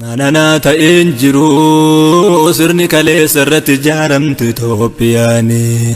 Nananaa ta'een jiru sirni kaleessa irratti ijaaramte Itoophiyaanii.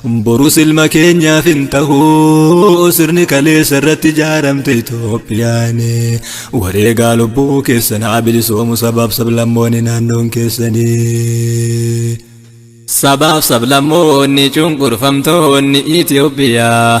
Borus ilma keenyaaf hin tahu sirni kaleessa irratti ijaaramte Itoophiyaan wareegaa lubbuu keessan haa bilisoomu sabaaf sablammoonni naannoon keessanii. Sabaaf sablammoonni cunqurfamtoonni Itoophiyaa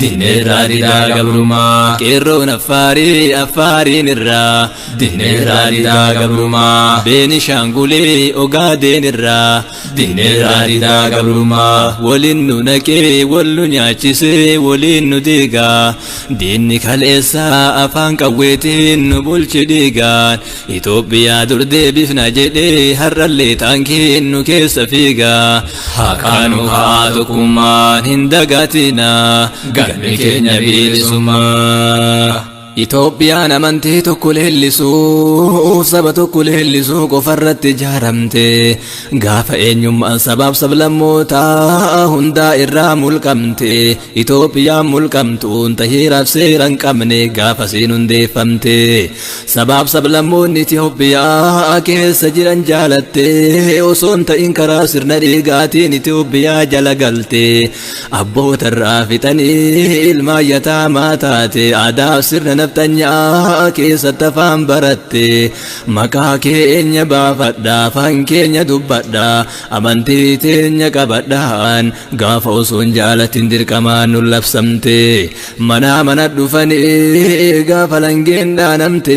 Dinneerraa didaa gabrumaa qeerroon affaarii affaariin irraa Dinneerraa didaa gabrumaa beenishaangulee ogaadeen irraa Dinneerraa didaa gabrumaa waliin nu naqee wal nu nyaachisee waliin nu diigaa Diinni kaleessaa afaan qawweetiin nu bulchi dhiigaan Itoophiyaa dur deebifna jedhee har'allee taankiin nu keessa fiigaa Haqaanu haa tokkummaan hin dagatina galmi keenya bilisummaa. Itoophiyaan amantii tokko leellisuu saba tokko leellisuu qofarratti ijaaramte gaafa eenyummaan sabaaf sablammootaa hundaa irraa mulqamte Itoophiyaan mulqamtuun tahiiraaf seera hin qabne gaafasiin hundeeffamte. Sabaaf sablammoonni Itoophiyaa keessa jiran jaalattee osoo hin ta'in karaa sirna dhiigaatiin Itoophiyaa jala galte. Abboota irraa fixanii ilmaan yataamaa taate aadaaf sirna nafxanyaa keessatti afaan baratte. Maqaa keenya baafadha afaan keenya dubbadha amantii teenya qabadhaan Gaafa osoon jaalatin dirqamaan nun labsamte Manaa mana dhufanii gaafa langeen dhaanamte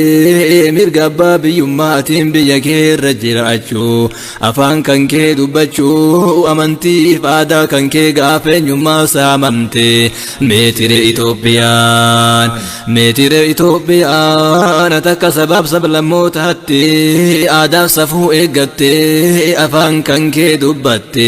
Mirga abbaa biyyummaatiin biyya kee irra jiraachuu Afaan kan kee dubbachuu amantiif aadaa kan kee gaafa eenyummaa saamamte Meetire Itoophiyaan Meetire Itoophiyaan ati akka sabaaf sablammootaatti Aadaaf safuu eeggattee afaan kan kee dubbatte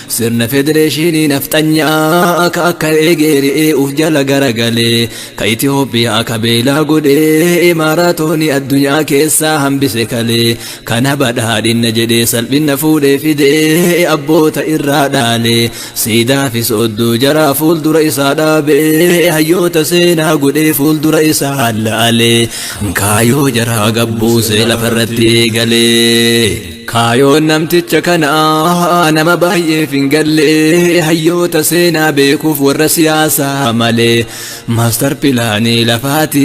Sirna federeeshinii nafxanyaa ka akka eegee re'ee uf jala garagalee ka Itoophiyaa ka beelaa godhee imaaraatooni addunyaa keessaa hambise kalee kana badhaadhinna jedhee salphinna fuudhee fidee abboota irraa dhaalee siidaa fi soodduu jaraa fuuldura isaa dhaabee hayyoota seenaa godhee fuuldura isaa hallaalee kaayoo jaraa gabbuusee lafarratti eegalee. Kaayoon namticha kanaa nama baay'eef hin galle hayyoota seenaa beekuuf warra siyaasaa malee maastar pilaanii lafaati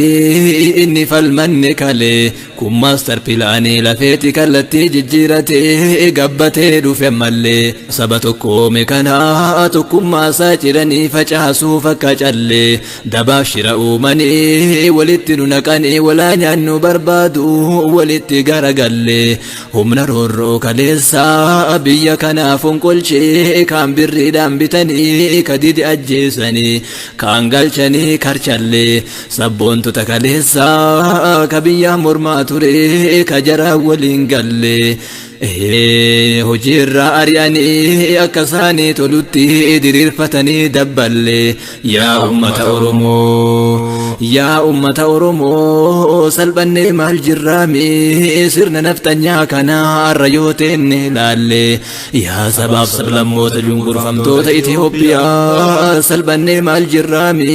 inni falmanne kalee kun maastar pilaanii lafeeti kallattii jijjiiratee gabbatee dhufe ammallee saba tokkoome kanaa tokkummaa isaa ciranii facaasuuf akka callee Dabaaf shira uumanii walitti nu naqanii walaa nyaannu barbaadu walitti garagalle humna roorroo kaleessaa biyya kanaa fonqolchee kaan birriidhaan bitanii ka dide ajjeesanii kaan galchanii karchalle sabboontota kaleessaa ka biyyaa mormaa ture ka jaraa waliin galle Ee, hojii irraa ari'anii akka isaanii tolutti diriirfatanii dabballe yaa ummata oromoo yaa ummata oromoo salphannee maal jirraami sirna nafxanyaa kana arra yoo teenne laalle yaa sabaaf sablammoota cunqurfamtoota Itoophiyaa salphannee maal jirraami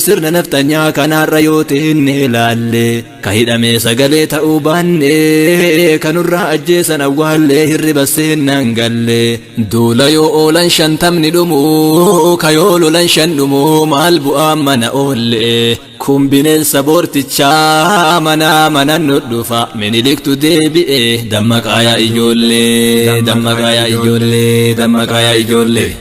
sirna nafxanyaa kana arra yoo teenne laalle. Ka hidhamee sagalee ta'uu baannee Ka nurraa ajjeesan awwaallee Hirriba seennaan gallee Duula yoo oolan shantamni dhumuu Ka yoo lolan shan dhumuu Maal bu'aa mana oollee Kun bineensa boortichaa Manaa mana nu dhufa Miniliktu deebi'ee Dammaqaa yaa ijoollee Dammaqaa yaa ijoollee Dammaqaa yaa ijoollee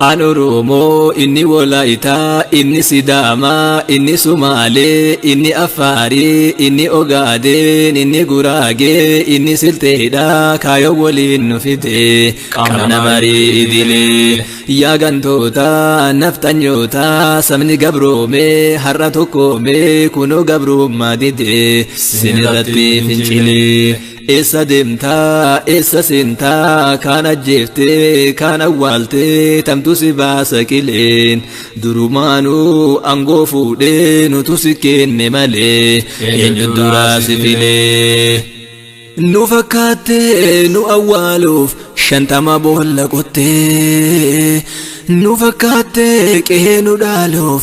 An Oromoo, inni Wolaayitaa, inni Sidaamaa, inni Sumaalee, inni Affaarii, inni Ogaadeen, inni Guraagee, inni Silteedha, kaayoo woliin nu fide, qabna marii idilee. Yaa gantoota, nafxanyoota, sabni gabroome, har'a tokkoome, kunoo gabrummaa dide, sinirratti fincilee. Eessa deemtaa eessa seentaa kaan ajjeeftee kaan awwaaltee tamtu si baasa qileen durumaanuu angoo fuudhee nutu si kenne malee eenyu duraa si filee. Nu fakkaattee nu awwaaluuf shantama boolla qottee nu fakkaattee qe'ee nu dhaaluuf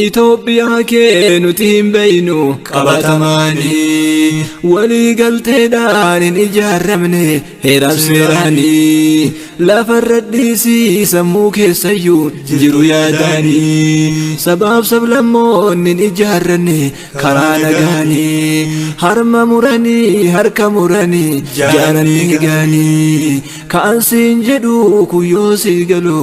Itoophiyaa kee nuti hin beeynu qabatamaanii walii galteedhaan hin ijaaramne heeraaf seeraanii lafarra dhiisii sammuu keessayyuu jiru yaadaanii sabaaf sablammoonni hin ijaaranne karaa nagaanii harma muranii harka muranii jaaranii gaanii ka'an siin jedhu kuyyoo sii galu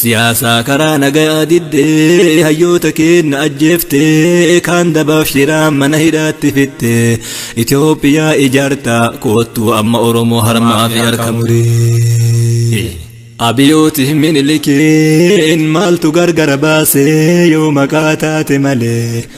Siyaasaa karaa nagayaa diddee hayyoota keenna ajjeeftee kaan dabaaf shiraan mana hidhaatti fittee Itoophiyaa ijaartaa koottuu amma Oromoo harmaa fi harka muree. Abiyooti minilikiin maaltu gargara baasee yoo maqaa taate malee.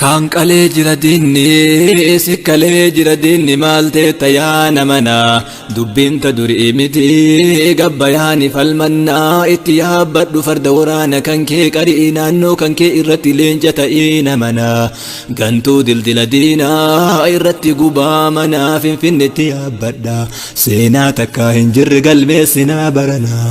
Kaan qalee jira diinni si kalee jira diinni maal teetta yaa namana dubbiin ta durii miti gabbayaani falmannaa itti yaabbadhu farda waraana kan kee qari'ii naannoo kan kee irratti leenca ta'ii namana gantuu dildila diinaa irratti gubaa manaa finfinnetti yaabbadha seenaa takkaa hin jirre galmeessinaa baranaa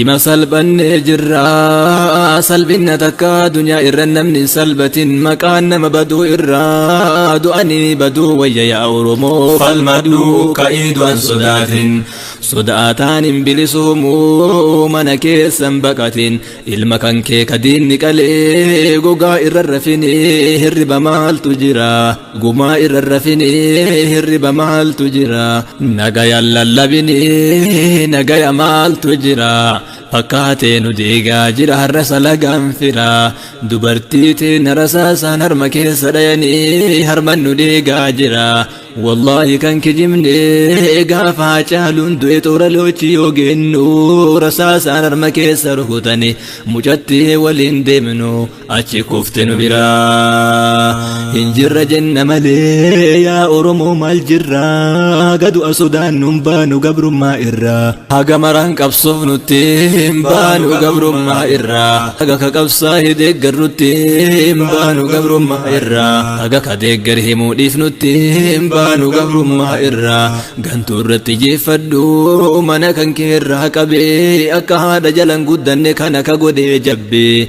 Ima salphannee jirra salphinna takka dunyaa irra namni hin salbatin maqaan nama baduu irra du'anii baduu wayya yaa oromoo falmadhu ka'ii du'an sodaatin sodaataan hin bilisuumu mana keessan baqatin ilma kan kee kadiinni qalee gogaa irra rafini hirriba maaltu jira. Gumaa irra rafinee hirriba maaltu jira nagaya lallabinee nagaya maaltu jira fakkaatee nu deegaa jira har'a salagaan fira dubartii teena rasaasaan harma keessa dhayanii harman nu deegaa jira wallaahi kan kijibnee gaafa caaluun du'e toora loochii yoo geennu rasaasaan harma keessa rukutanii mucattii waliin deemnu achi kufte nu bira hin jirra jenna malee yaa oromoo maal jirra gadu asodaan nun baanu gabrummaa irra haga maraan qabsoof nutti hin baanu gabrummaa irra haga ka qabsaa hi deeggar nutti hin baanu gabrummaa irra haga ka deeggar himuu dhiif nutti hin baanu gabrummaa irra gantuu irratti jeeffadhu mana kan kee irraa qabee akka haadha jalan guddanne kana ka godhee jabbee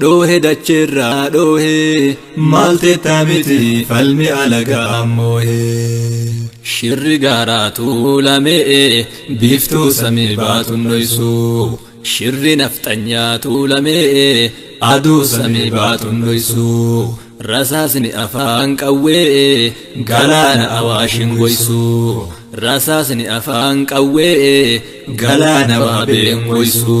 dhoohe dacheerraa dhoohe maal teetta miti falmi alagaa moohe. Shirri gaaraa tuulamee biiftuu samii baatuun dhoysu. Shirri nafxanyaa tuulamee aduu samii baatuun dhoysu. Rasaasni afaan qawwee galaana awaashin goysu. Rasaasni afaan qawwee galaana waabeen goysu.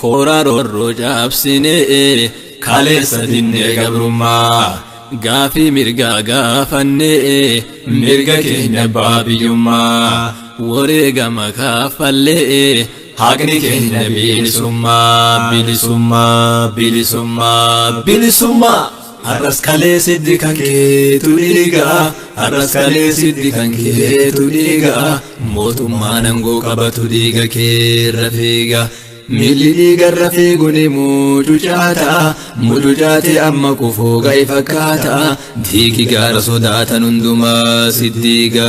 Kooraa roorroo caabsinee kaleessa dinnee gabrummaa gaafii mirgaa gaafannee mirga keenya abbaa biyyummaa wareegama kaffallee haqni keenya bilisummaa bilisummaa bilisummaa bilisummaa. Har'as kalees hiddi kan keetu dhiiga Har'as kalees hiddi kan keetu dhiiga Mootummaan aangoo qabatu dhiiga keerra fiiga Miilli dhiigarra fiiguni mucucaata Mucucaatee amma kufuu ga'e fakkaata Diigi gaara sodaatan hundumaa siddiiga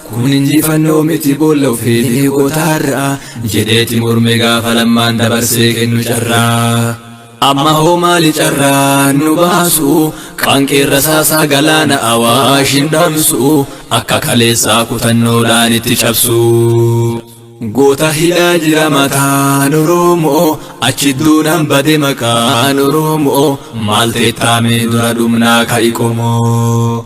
Kun injifannoo miti boolla ofii diigotaarra jedheeti mormee gaafa lammaan dabarsee kennu carraa. Amma hoo maali carraa nu baasu qaanqeen rasaasaa galaana awaash hin dhamsu akka kaleessaa kutannoodhaan itti cabsu. Goota hidhaa jira mataan Oromoo achi duunaan bade maqaan Oromoo maal teettaamee dura dhumnaa ka'i qomoo.